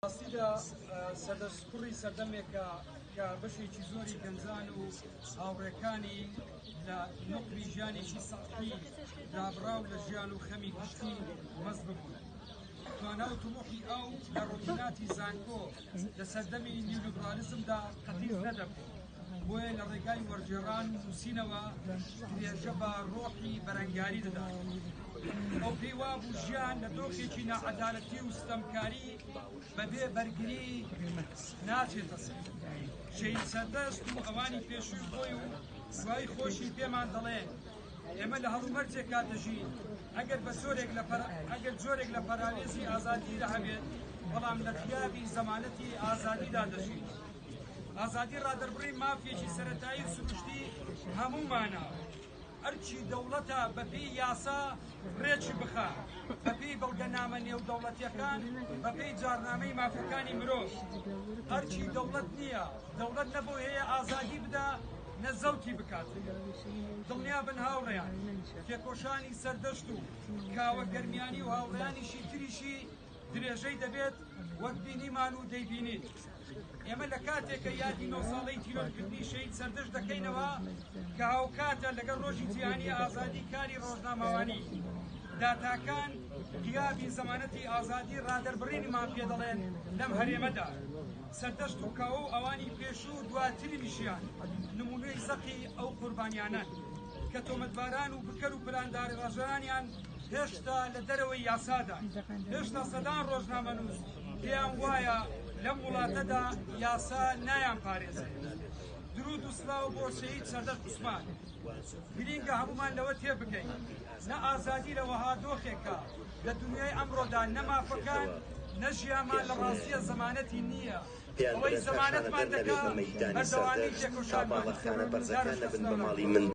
ڕاستیدا سەدەسپڕی سەردەمێکە کە بەشێکی زۆری گەنجان و هاوڕێکانی لە نقلی ژیانێکی سەقی دابراو لە ژیان و خەمی گشتی مەست ببوون. توانا و تموحی ئەو لە ڕۆژناتی زانکۆ لە سەردەمی نیولیبرالیزمدا قەتیس نەدەبوو. بۆیە لە ڕێگای وەرگێڕان و نووسینەوە درێژە بە ڕۆحی بەرەنگاری دەدات ئەو پێی وابوو ژیان لە دۆخێکی ناعەدالەتی و ستەمکاری بەبێ بەرگری ناچێتە سەر شەید سەردەست و ئەوانی پێشووی خۆی و سای خۆشی پێمان دەڵێ ئێمە لە هەڵومەرجێکا دەژین ئەگەر بە سۆرێک لە ئەگەر جۆرێک لە پەراوێزی ئازادی لە هەبێت بەڵام لە خیابی زەمانەتی ئازادیدا دەژین ئازادی ڕادەربڕین مافێکی سەرەتایی و سروشتی هەموومانە ئەرچی دەوڵەتە بەپی یاسا ڕێکی بخە بەپی بەڵگەنامە نێودەوڵەتیەکان بەپی جارنامەی مافەکانی مرۆڤ ئەرچی دەوڵەت نییە دەوڵەت نەبوو هەیە ئازادی بدا نە زەوتی بکات دڵنیا بن هاوڕێیان تێکۆشانی سەردەشت و کاوە گەرمیانی و هاوڕیانیشی تریشی درێژەی دەبێت وەک بینیمان و دەیبینین ئێمە لە کاتێکە یادی نۆ ساڵەی تیرۆرکردنی شەید سەردەش دەکەینەوە کە هاوکاتە لەگەڵ ڕۆژی جیهانی ئازادی کاری ڕۆژنامەوانی داتاکان غیابی زەمانەتی ئازادی ڕادەربڕینیمان پێ دەڵێن لەم هەرێمەدا سەردەشت و کاوە و ئەوانی پێشوو و دواتری میشیان نمونەی زەقی ئەو قوربانیانە کە تۆمەتباران و بکەر و پلانداری ڕژانیان هێشتا لە دەرەوەی یاسادان هێشتا سەدان ڕۆژنامەنووس پێیان وایە لەم وڵاتەدا یاسا نایان پارێزێت درود و سلاو بۆ شەهید سەردەشت عوسمان گرینگە هەمومان لەوە تێ بکەین نە ئازادی لە وەها دۆخێکە لە دنیای ئەمڕۆدا نەمافەکان نەژیامان لە ڕاستیە زمانەتی نییە ئەوەی زمانەتمان دەکات بەردەوامی تێکۆشان بەڵەخانە بەرزەکان لە بن بە ماڵی من